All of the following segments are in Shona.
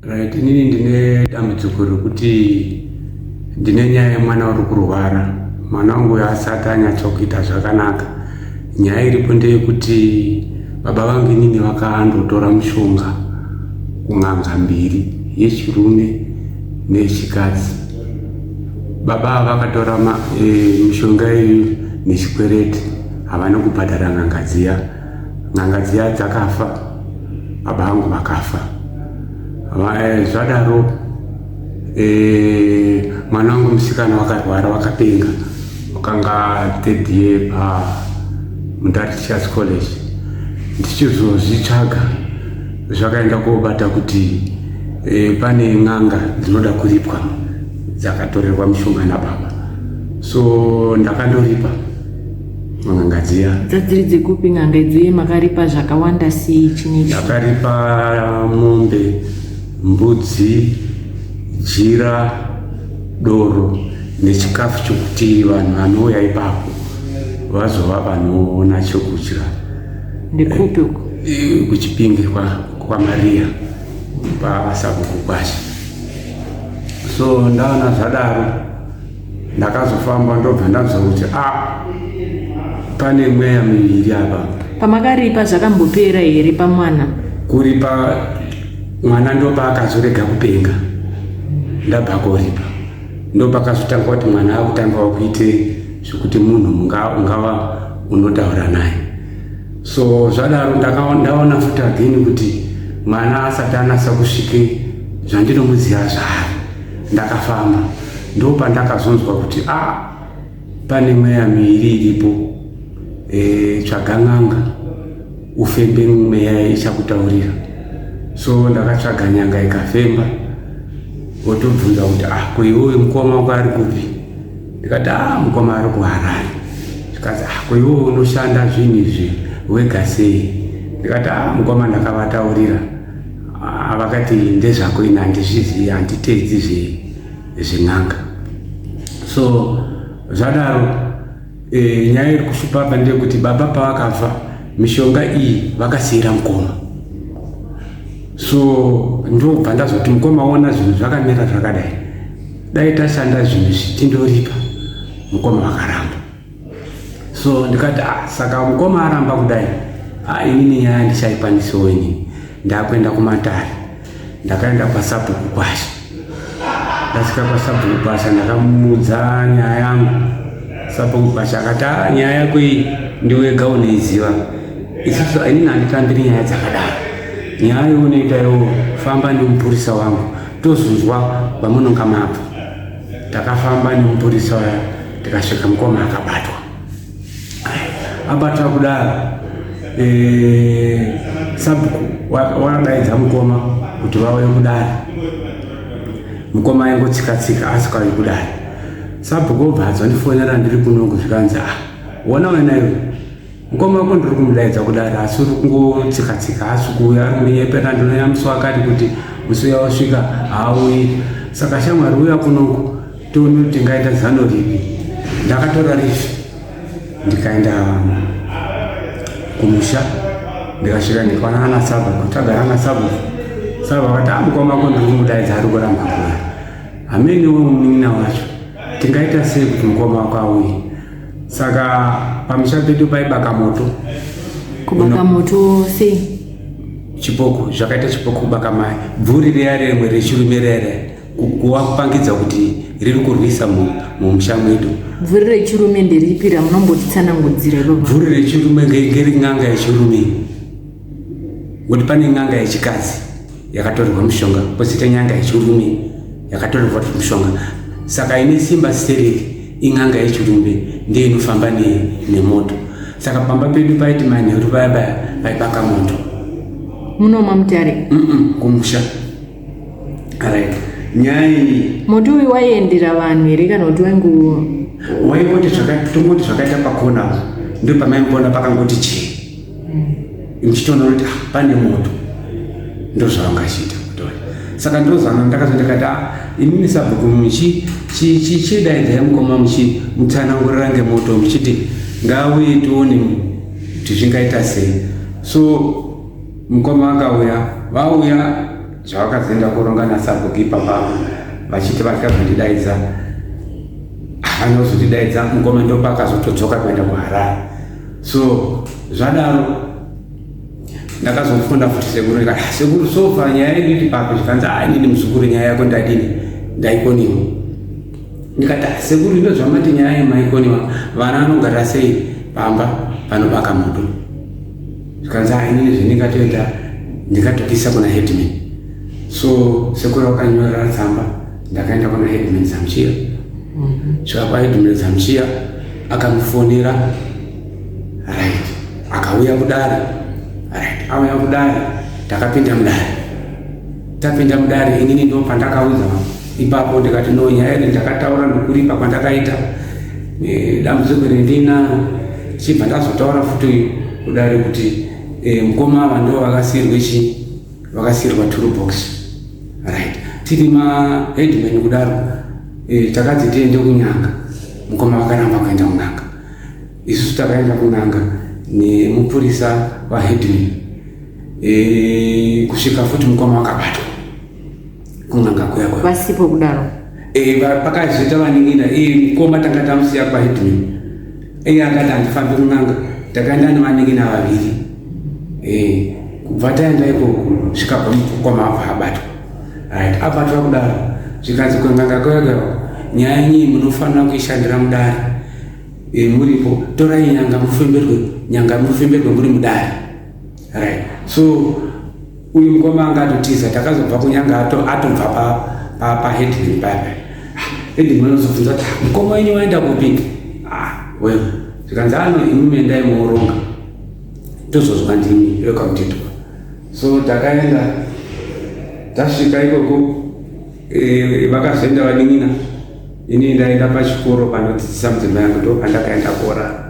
Right, inini ndine dambudziko rekuti ndine nyaya yemwana uri kurwara mwana wangu uyo asati anyatsokuita zvakanaka nyaya iripo ndeyekuti baba vangu inini vakandotora mushonga kun'anga mbiri yechirume neyechikadzi baba ava vakatora e, mishonga iyoyo nechikwereti havana kubhadhara n'anga dziya n'anga dziya dzakafa baba vangu vakafa eh, zvadaro eh, mwana wangu musikana wakarwara wakapenga wakanga third year pa mundari teachers college ndichizozvitsvaga zvakaenda kobata kuti e, pane n'anga dzinoda kuripwa dzakatorerwa mishonga nababa so ndakandoripa n'anga dziya dzadziri dzekupi n'anga idzi uye makaripa zvakawanda sei chinechi yakaripa mombe mbudzi jira doro nechikafu chokuti vanhu vanouya ipapo vazova vanoona chokudya ndekupi uko Eh, kuchipinge kwa- kwamariya kwasakukukwasha so ndaona zvadaro ndakazofamba ndobva ndanzwa kuti a ah, pane mweya miviri apa pamakaripa zvakambopera here pamwana kuripa mwana ndopaakazorega kupenga ndabva koripa ndopakazotanga kuti mwana akutanga wakuite zvekuti munhu ungava unotaura naye so zvadaro ndaona futi again kuti mwana asati anasa kusvike zvandinomuziva zvaari Ndakafamba ndopandakazonzwa kuti a ah, pane mweya miiri iripo e, eh, tsvaga n'anga ufembe mweya ichakutaurira so ndakatsvaga nyanga ikafemba otobvunza kuti a ah, koiwoyo mukoma wako ari kupi ndikati a ah, mukoma ari kuharari zvikanzi a koiwoyo unoshanda zvinhu izvi wega sei ndikati a mukoma ndakavataurira Ah, vakati ndezvako ini handizvizivi handiteedzi zven'anga so zvadaro e, nyaya iri kushupa apa ndeyekuti baba pavakafa mishonga iyi vakasiira mukoma so ndobva ndazoti mukoma ona zvinhu zvakamira zvakadai dai tashanda zvinhu zvichindoripa mukoma vakaramba so ndikati ah, saka mukoma aramba kudai ah, inini nyaya ndichaikwanisawo inini ndakuenda kumatare ndakaenda kwasabhuku kwasha ndasvika kwasabhuku kwasha ndakamuudza nyaya yangu sabhuku kwasha akati ah, nyaya yako iyi ndiwega unoiziva isisu inini handitambiri nyaya dzakadaro nyaya yeunoita yo famba nemupurisa wangu tozunzwa vamunonga mabva Takafamba nemupurisa waya tikasvika mukoma akabatwa. Abatwa kudaro eh, sabhuku wakabaidza mukoma kuti vauye kudare. Mukoma aingotsika tsika asi kwari kudare. Sabhuku obva adzondifonera ndiri kuno kuzvikanzi ah wona wena iwe mukoma wako ndiri kumudaidza kudaro asi uri kungotsika tsika asi kuuya ari kundinyepera ndinoyambiswa akati kuti musi uya wasvika haauyi saka shamwari uya kunoku tione kuti tingaita zano ripi ndakatora rifi ndikaenda kumusha ndikasvika ndikwana ana saba kutagara ana saba saba akati a ah, mukoma wako ndiri kumudaidza ari kuramba kuya hamene wemunin'ina wacho tingaita sei kuti mukoma wako auye saka pamusha pedu paibaka moto kubaka moto sei chipoko zvakaita chipoko kubaka mai bvuri riya rimwe rechirume rere kuwa kupangidza kuti riri kurwisa mumusha mwedu bvuri rechirume nderipi ramunombotitsanangudzira bvuri rechirume ngerin'anga yechirume kuti pane n'anga yechikadzi yakatorerwa mushonga pozoita nyanga yechirume yakatorerwa mushonga saka ine simba stereki in'anga yechirume ndiyo inofamba nemoto saka pamba pedu paiti manheru vaya vaya vaibaka moto munoma mutare kumusha right nyaya iyi moto uyu waiendera vanhu here kana kuti waingu waingoti tongoti zvakaita pakona ndo pamaimboona pakangoti chii ndichitoona kuti ah, pane moto ndozvavangachiita kutori saka ndozana ndakazo ndikati a ah, inini sabhuku muchidaidza mukoma muchimutsanangurira ngemoto muchiti ngauye tione kuti zvingaita sei so mukoma akauya vauya zvavakazoenda koronga nasabhuku ipapa vachiti vakazondidaidza havana kuzondidaidza mukoma ndopakazotodzoka kuenda kuharare so zvadaro ndakazofunda futi sekuru ndikati "Ah, sekuru sofa nyaya yedu iti papi zvikanzi a inini muzukuru nyaya yako ndadini ndaikoniwa ndikati "Ah, sekuru ino zvamati nyaya yemaikoniwa vana vanogara sei pamba panobaka moto zvikanzi a inini zvendingatoita ndikatopisa kuna headman so sekuru vakanyora tsamba ndakaenda kuna headman zamchiya mhm. svika kwaheadman zamchiya akamufonera right akauya kudare right auya kudare takapinda mudare tapinda mudare inini ndo pandakaudza ipapo ndikati no nyaya iri ndakataura ndokuripa kwandakaita e, dambudziko rendina chibva ndazotaura futi kudare kuti e, mukoma ava ndo vakasiyirwe chii vakasiirwa toolbox right tiri maheadman kudaro e, takadzi tiende kunyanga mukoma vakaramba kuenda kunanga isusu takaenda kunanga nemupurisa waheadman e, kusvika futi mukoma wakabatwa kunanga kuya kuya vasipo kudaro eh pakazoita vaningina eh mukoma tanga tamusiya kwa hidmi eh akati andifambi kunanga takaenda nevaningina vaviri eh kubva taenda ikoko zvikabva mukoma apa abatwa right abatwa kudaro zvikanzi kunanga kuya kuya nyaya yenyi munofanira kuishandira mudare eh, muripo torai nyanga mufemberwe nyanga mufemberwe muri mudare right so uyu mukoma anga atotiza takazobva kunyanga atobva paheadman pa, pa paya headman anozobvunza kuti ah, mukoma wenyu waenda kupi ah, well zvikanzi ano ah, imi mendai mooronga tozozwa ndimi rekamutitwa so takaenda tasvika ikoko eh, vakazoenda vanin'ina Ini ndaenda pachikoro panodzidzisa mudzimai yangu ndo pandakaenda kuorara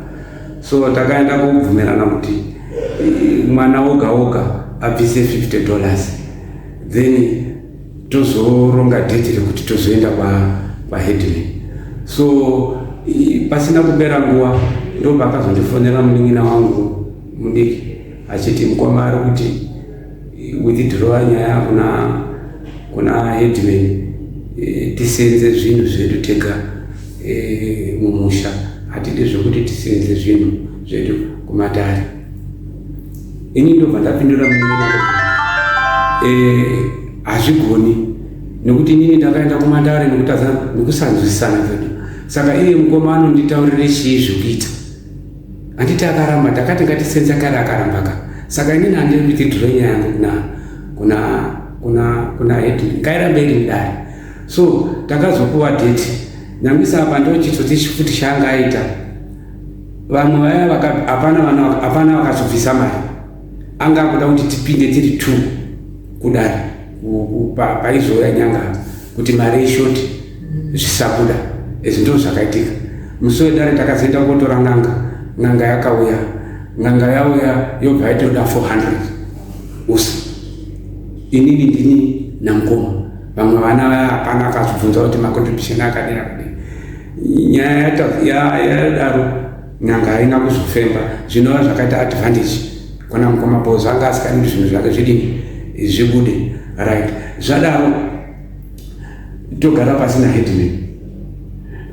so takaenda kubvumirana kuti eh, mwana woga woga abvise 50 dollars then tozoronga date rekuti tozoenda kwaheadman so pasina kupera nguva ndo paakazondifonera munin'ina wangu mudiki achiti mukoma ari kuti withdrowa nyaya kuna kuna headman eh, tisenze zvinhu zvedu tega eh, mumusha hatidi zvekuti tisenze zvinhu zvedu kumatare ini ndobva ndapindura munyina eh, hazvigoni nekuti inini ndakaenda kumatare nekusanzwisisana zvedu saka iye mukoma anonditaurire chii zvekuita Handiti akaramba ndakati ngatisenza kare akaramba ka saka inini handiri kuti dhiroi nyaya yangu kuna kuna kuna kuna hedini ngairambe iri mudare so takazopuwa date nyamisa apa ndochitsotsi futi chaanga aita vamwe vaya hapana vakazobvisa mari anga akuda kuti tipinde tiri two kudari paizoya nyanga kuti mari ishoti mm. zvisabuda izvi ndizvo zvakaitika musi wedare takazoenda kotora n'anga n'anga yakauya n'anga yauya yobva yaitoda 400 usi inini ndini namukoma vamwe vana vaya hapana akazvibvunza kuti macontribution akadira kudii nyaya yadaro N'anga haina kuzofemba zvinova zvakaita advantage kwana mukoma bozo anga asikadi kuti zvinhu zvake zvidini zvibude right zvadaro togara pasi na headman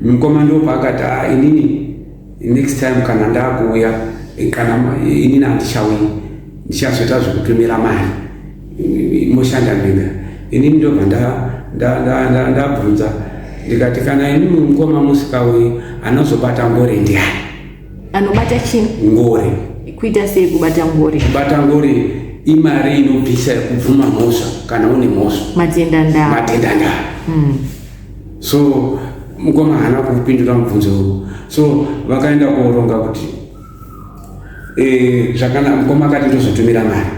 mukoma ndo paakati a ah, inini next time kana ndakuuya kana inini handichauyi ndichazoita zvekutumira mari moshanda mega inini ndobva ndabvunza ndikati kana ini mukoma musika uyu anozobata ngori ndiani anobata chii ngori kuita sei kubata ngori kubata ngori imari inobvisa kubvuma mhosva kana une mhosva matenda ndaa matenda ndaa mm. so mukoma haana kupindura mubvunzo uyu so vakaenda kuoronga kuti Eh, zvakanaka mukoma akati ndozotumira mari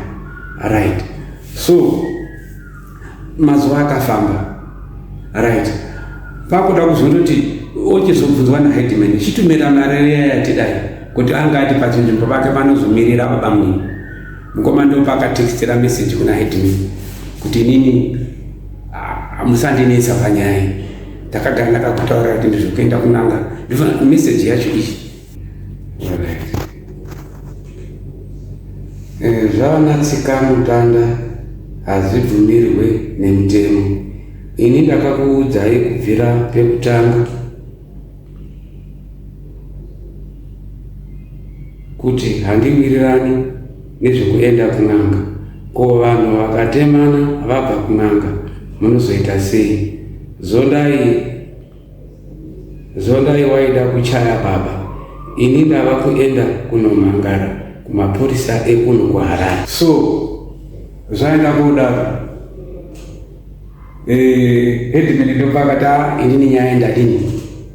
right so mazuva akafamba right pakuda kuzondoti ochizobvunzwa naheadman chitumira mari riya yatidai kuti anga ati pachinzvimbo pake panozomirira babamwini mukoma ndopakatextira message kuna headman kuti inini musandinetsa panyaya ndakagara ndakakutaurira kuti ndizvokuenda kunanga ndifa message yacho iyi Eh, zvavana tsikamutanda hazvibvumirwe nemutemo ini ndakakuudzai kubvira pekutanga kuti handiwirirani nezvekuenda kun'anga ko vanhu vakatemana vabva kun'anga munozoita sei zondai Zondai waida kuchaya baba ini ndava kuenda kunomhangara kumapurisa ekuno kuharare so zvaenda kudaro eh, headman ndopakati a inini nyaya ndadini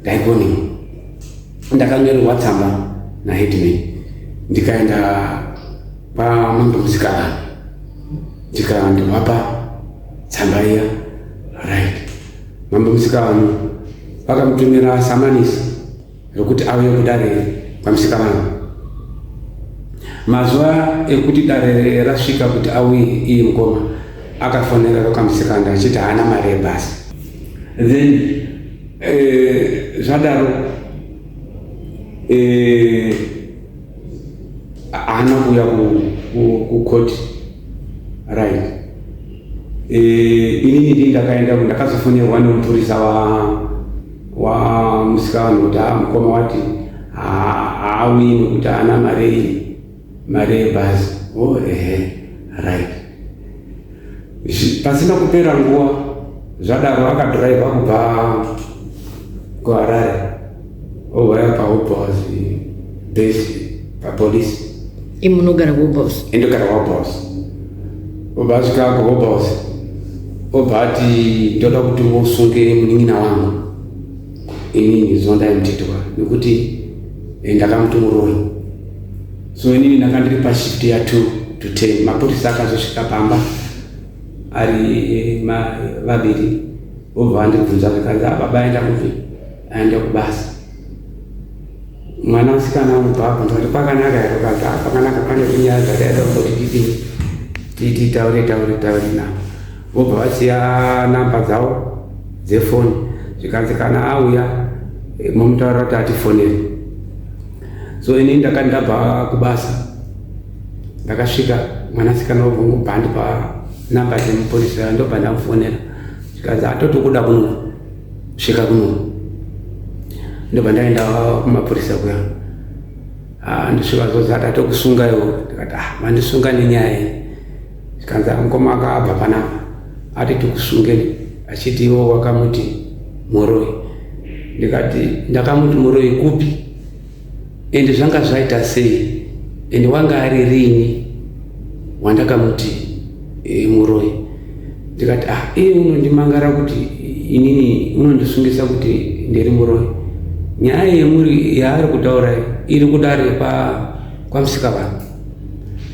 ndaigoni ndakanyorerwa tsamba naheadman ndikaenda pamambo musikalani ndikandovapa tsamba iya right Mambo Musikavanhu vakamutumira samanisi rokuti auye kudare kwaMusikavanhu. Mazuva ekuti dare rasvika kuti auye iye mukoma akafonera rokamusikanda achiti haana mari yebhasi. Then eh, zvadaro eh, haana kuuya kukoti right Eh, inini ndi ndakaenda ndakazofonerwa nemupurisa wamusikana kuti a mukoma wati haawi nekuti haana mari iyi mari yebhazi o oh, ehe right pasina kupera nguva zvadaro akadhiraivha kubva kuharare Oh, vaya pahope house base papolice imi munogara kuhope house indogara kuhope house obva asvika kuhope house obva ati ndoda kuti usunge munin'ina wangu inini zondaimutetwa nekuti eh, ndakamuti muroyi so inini ndanga ndiri pashift ya two to ten mapurisa akazosvika pamba ari eh, ma- vaviri obva andibvunza zvikanzi "Ah, baba aenda kupi aenda kubasa mwana musikana unobvabva ndikati pakanaka here ukati ah, pakanaka pane kunyaya dzakaita kuti titii titi taure taure taure navo vobva vasiya namba dzavo dzefoni zvikanzi kana auya eh, momutaura kuti atifonere so ini ndakati ndabva kubasa ndakasvika mwanasikana wobvongobhandi panamba dzemupurisa ndobva ndamufonera zvikanzi atotokuda kunoa kusvika kuno ndobva ndaenda kumapurisa kuya ah, ndosvika zvozi atatokusunga iwo ndikati ah, mandisunga nenyaya iyi zvikanzi ah, mukoma akaabva panapa ati tikusungeni achiti iwo wakamuti muroi ndikati ndakamuti muroi kupi ende zvanga zvaita sei ende wanga ari rini wandakamuti e, muroyi ndikati ah iye unondimangara kuti inini unondisungisa kuti ndiri muroyi nyaya yemuri yaari kutaura iri kudare kwamusika vangu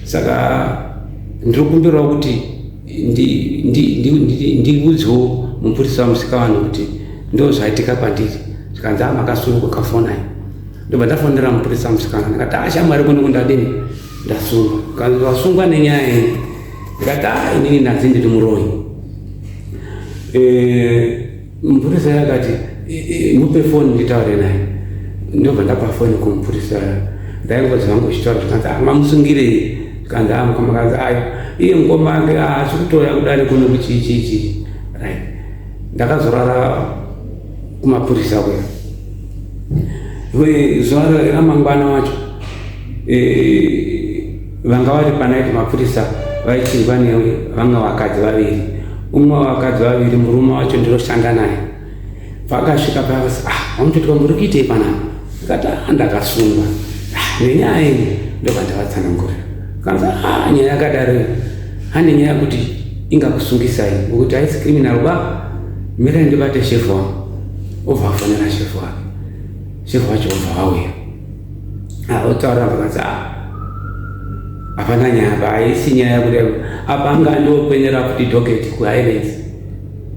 saka ndiri kumbirawo kuti ndiudzwo mupurisa musika vanhu kuti ndo zvaitika kwandiri zvikanzi a makasunga kafonai ndobva ndafonera mupurisa musikana ndikati a shamwari kuno kundadini ndasungwa kanzi wasungwa nenyaya iyi ndikati a inini ndanzi ndiri muroyi eh, Mupurisa yakati mupe foni nditaure naye ndobva ndapa foni kumupurisa ndaingozi vangu uchitaura zvikanzi ah, mamusungirei zvikanzi ah, mukamakanzi ayo ah, iye mukoma ake haasi kutouya kudare kuno kuchii chii chii right ndakazorara kumapurisa kuya zuva ramangwana wacho eh, Vanga vari panaiti mapurisa vaichinjwa newe vanga vakadzi vaviri umwe wavakadzi vaviri murume wacho ndiroshanda naye vakasvika pavasi ah wamutotiwa muri kuitei panapa ndikati ah ndakasungwa ah, nenyaya yenyu ndobva ndavatsanangurira kanzi ah nyaya yakadaro hande nyaya kuti ingakusungisai ngokuti haisi criminal ba mirai ndibate shefu wangu obva afonera shefu wake shefu wacho obva vauya otaura zvakanzi a ah, hapana nyaya apa haisi nyaya yakuda apa anga andiopenera kuti doketi kuhighlands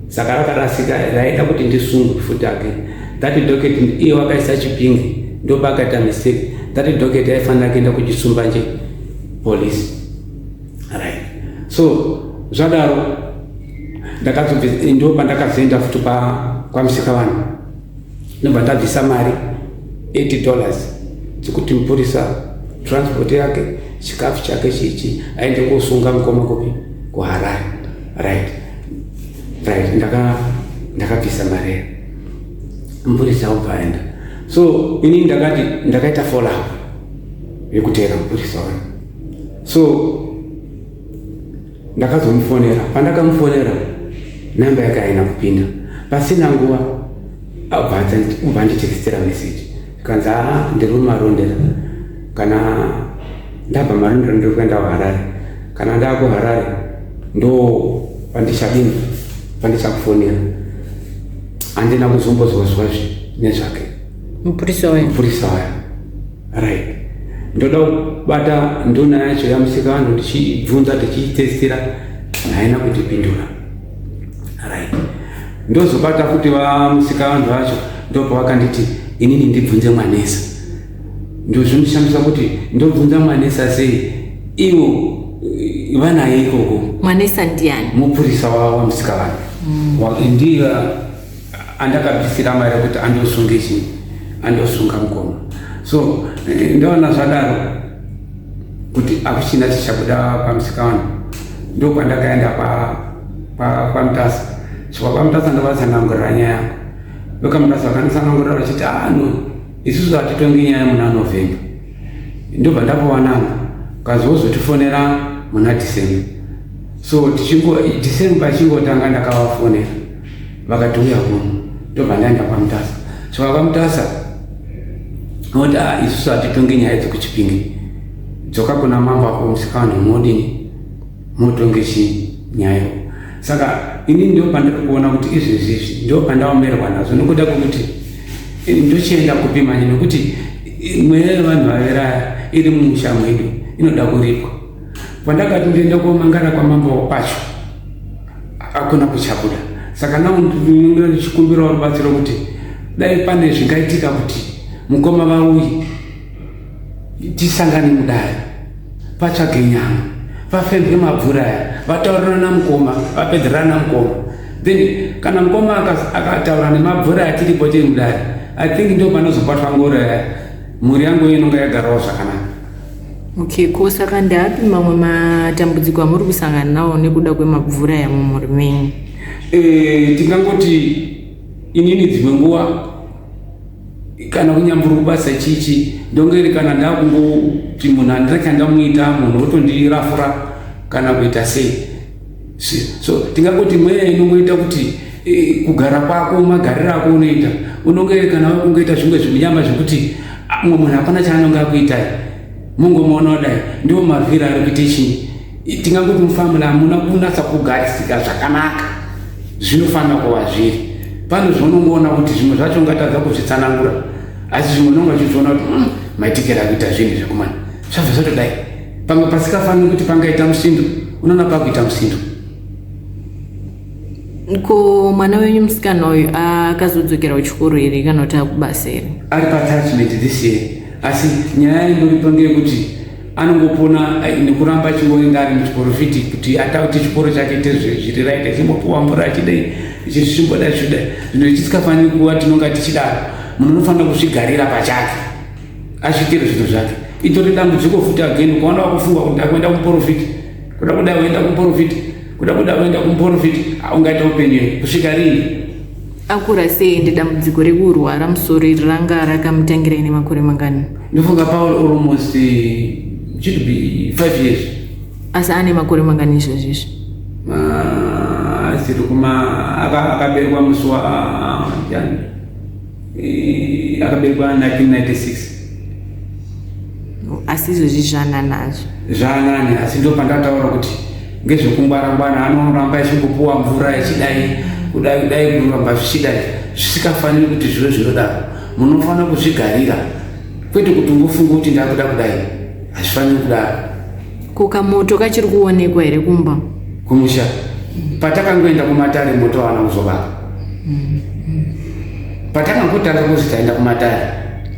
saka rakarasika raida kuti ndisungu futi ake that doketi iye wakaisa chipingi ndopakaita mistake that doketi aifanira kuenda kuchisumba nje polisi right so zvadaro ndakazobve ndo pandakazoenda futi kwamusika vanhu ndobva ndabvisa mari 80 dollars dzekuti mupurisa transport yake chikafu chake chichi aende kosunga mukoma kupi kuharare right right ndakabvisa ndaka mari mupurisa obva aenda so ini ndakati ndakaita follow up yekuteera mupurisa wani so ndakazomufonera pandakamufonera namba yake haina kupinda pasina nguva abva anditekstera message kanzi aa ndiri mumarondera kana ndabva marondera ndiri kuenda kuharare kana ndaa kuharare ndo pandichadini pandichakufonera handina kuzombozwazwazve nezvake mupurisa uya mupurisa uya right ndoda kubata nduna yacho yamusika vanhu ndichibvunza tichiitestira haina kutipindura right ndozobata futi vamusika vanhu vacho ndopavakanditi inini ndibvunze mwanesa ndozvimushamisa kuti ndobvunza mwanesa sei ivo eh, vanaye ikoko mwanesa ndiani mupurisa wamusika vanhu mm. ndiye andakabvisira mari yekuti andosunge chii andosunga mukoma so eh, ndoona zvadaro kuti akuchina chichabuda pamusika wani ndokwandakaenda kwamutasa svikwa kwamutasa ndovatsanangurira nyaya yangu vekamutasa vakanditsanangurira vachiti ano ah, isusu hatitongi nyaya muna november ndobva ndapowananga kazi wozotifonera muna december so tichingo december achingotanga ndakavafonera vakati uya kuno ndobva ndaenda kwamutasa saka kwamutasa oti ah, isusu hatitonge nyaya dzekuchipinge dzoka kuna mambo ako musikavanhu modini motonge chii nyaya saka ini ndo pandiri kuona kuti izvezvi izvi ndo pandaomerwa nazvo nokuda kwekuti eh, ndochienda kupi manje nokuti eh, mweya yevanhu vaveraya iri mumusha mwedu inoda kuripwa pandakati ndoenda komangara kwamambo pacho hakuna kuchabuda saka naunonga ndichikumbirawo rubatsiro kuti dai pane zvingaitika kuti mukoma vauyi tisangane mudare patsvage nyama vafembwe mabvura aya vataurirana mukoma vapedzerana mukoma then kana mukoma akataura nemabvura atiripo tiri mudare i think ndo panozobatwa ngoro yaya mhuri yangu inonga yagarawo zvakanaka Okay, ko saka ndeapi mamwe matambudziko amuri kusangana nawo nekuda kwemabvura yamumhuri menyu? Eh, tingangoti inini dzimwe nguva kana kunyambura kubasa chichi ndongeri kana ndakungoti munhu handina chandamuita munhu otondirafura kana kuita sei so tingangoti mweya inongoita kuti eh, kugara kwako magariro ako unoita unonge kana wakungoita zvimwe zvimunyama zvekuti ah, mumwe munhu hapana chaanonge akuitai mungomuona kudai ndiwo mavhiri ari kuita chii tingangoti mufamili hamuna kunatsa kugarisika zvakanaka zvinofanira kuva zviri pane zvaunongoona kuti zvimwe zvacho ungatadza kuzvitsanangura asi zvimwe unonga uchizviona kuti hmm, maitikira kuita zvinhu zvekumana zvabva zvatodai pamwe pasikafaniri kuti pangaita musindo unoona pakuita musindo ko mwana wenyu musikana uyu akazodzokera kuchikoro here kana kuti akubasa here ari paatachment this year asi nyaya inoripa ngeyekuti anongopona eh, nekuramba achingoenda ari muchikoro fiti kuti ata kuti chikoro chake ite zviri right achimbopiwa mvura achidai chizvimboda zvichidai zvino ichitikafaniri kuva tinonga tichidaro munhu unofanira kuzvigarira pachake azviitire zvinhu zvake itori dambudziko futi again ukaona wakufunga kuti ndakuenda kumuporofiti kuda kuda uenda kumuporofiti kuda kuda uenda kumuporofiti ungaita upenyu kusvika rini akura sei ende dambudziko rekurwara musoro iri ranga rakamutangira ine makore mangani ndofunga paul almost eh, should be five years asi ane makore mangani izvozvi izvi asiri kuma akaberwa musi wa ah, jani Eh, akaberekwa 1996 asi izvozvi zvaanani azvo zvaanani asi ndopandataura kuti ngezvekungwarangwana anoramba echingopuwa mvura echidai kudai kudai kuramba zvichidai zvisikafaniri kuti zvive zvinodaro munofanira kuzvigarira kwete kuti ungofunga kuti ndakuda kudai hazvifaniri kudaro Ko kamoto kachiri kuonekwa here kumba? Kumusha. Patakangoenda kumatare moto hawana kuzobaka. Patakangotanga kuzi taenda kumatare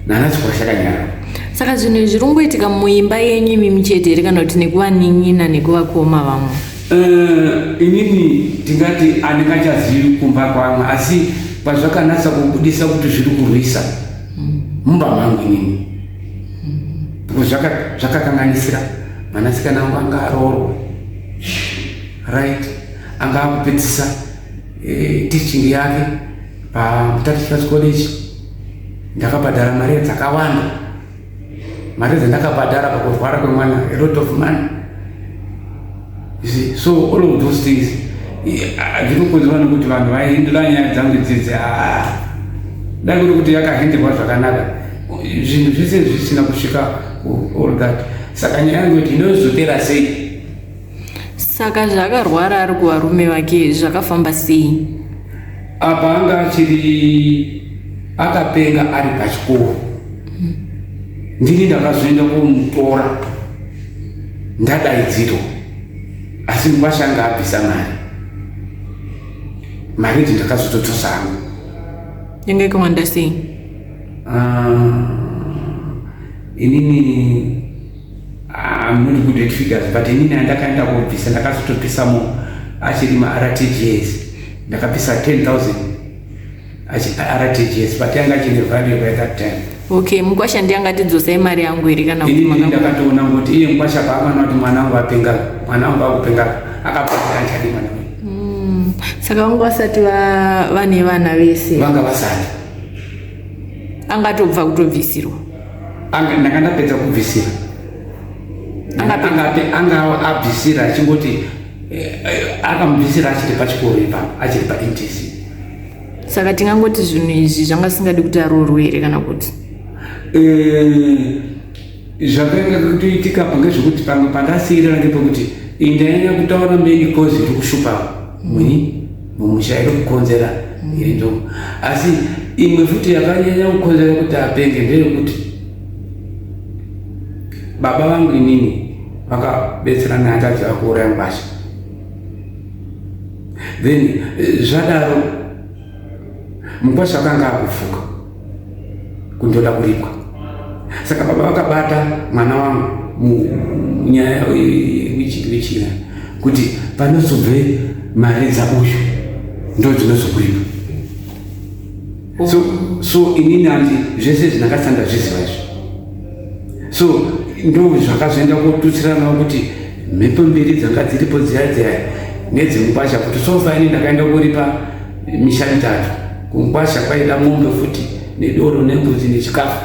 nana chikwasha kanyara. Saka zvinhu zviri kungoitika muimba yenyu imimi chete here kana kuti nekuvanin'ina nekuvakoma vamwe? Uh, inini tingati andingachazivi kumba kwamwe asi pazvakanatsa kubudisa kuti zviri kurwisa mumba mangu inini zvakakanganisira mwanasikana wangu anga aroorwa right anga akupedzisa eh, teaching yake pamutatichas college ndakabhadhara mari dzakawanda mari dzandakabhadhara pakurwara kwemwana a lot of money so all of those things hazvinokonzerwa nokuti vanhu vaihindura nyaya dzangu dzidzi ah, dai kuri kuti yakahenderwa zvakanaka zvinhu zvese zvisina kusvika all that saka nyaya yangu kuti inozopera sei saka zvakarwara ari kuvarume vake zvakafamba sei apa anga achiri akapenga ari pachikoro ndini ndakazoenda kumutora ndadaidzirwa asi mukwasha anga abvisa mari mari idzi ndakazototosa hangu yange ikawanda sei ah, inini I'm not good at figures but inini andakaenda kobvisa ndakazotobvisamo achiri maRTGS ndakabvisa 10000 RTGS but yanga chine value by that time. Okay, mkwasha ndiye angatidzosai mari yangu here kana kuti maka ndakatoona kuti iye mkwasha paamana kuti mwana wangu apenga, mwana wangu akupenga akapata anchadi mwana wangu. Mm. Saka vangu vasati va vane vana vese. Vanga vasati. Angatobva kutobvisirwa. Anga ndanga ndapedza kubvisira. Anga anga abvisira achingoti Eh, eh, akamubvisira achiri pachikoro ipa achiri paintc saka tingangoti zvinhu izvi zvanga zvisingadi kuti aroorwe here kana kuti eh, zvakainga kutoitika pange zvekuti pamwe pandasiirira ngepekuti indainya kutaura meni kozi iri kushupa muni mumusha iri kukonzera iri ndomo asi imwe futi yakanyanya kukonzera kuti apenge ndeyekuti baba vangu inini vakabetsera naye taziva kuuraya ngwasha then eh, zvadaro mukwasha akanga akufuka kundoda kuripwa saka baba vakabata mwana wangu munyaya wichikirichira kuti panozobve mari dzauyu ndo dzinozokuripa so so inini andi zvese zvinakasanda zviziva izvo so ndo zvakazoenda kotutsiranawo kuti mhepo mbiri dzanga dziripo dziya dziya nedzemukwasha kuti sofaini ndakaenda kuripa misha mitatu kumukwasha kwaida mombe futi nedoro nembuzi nechikafu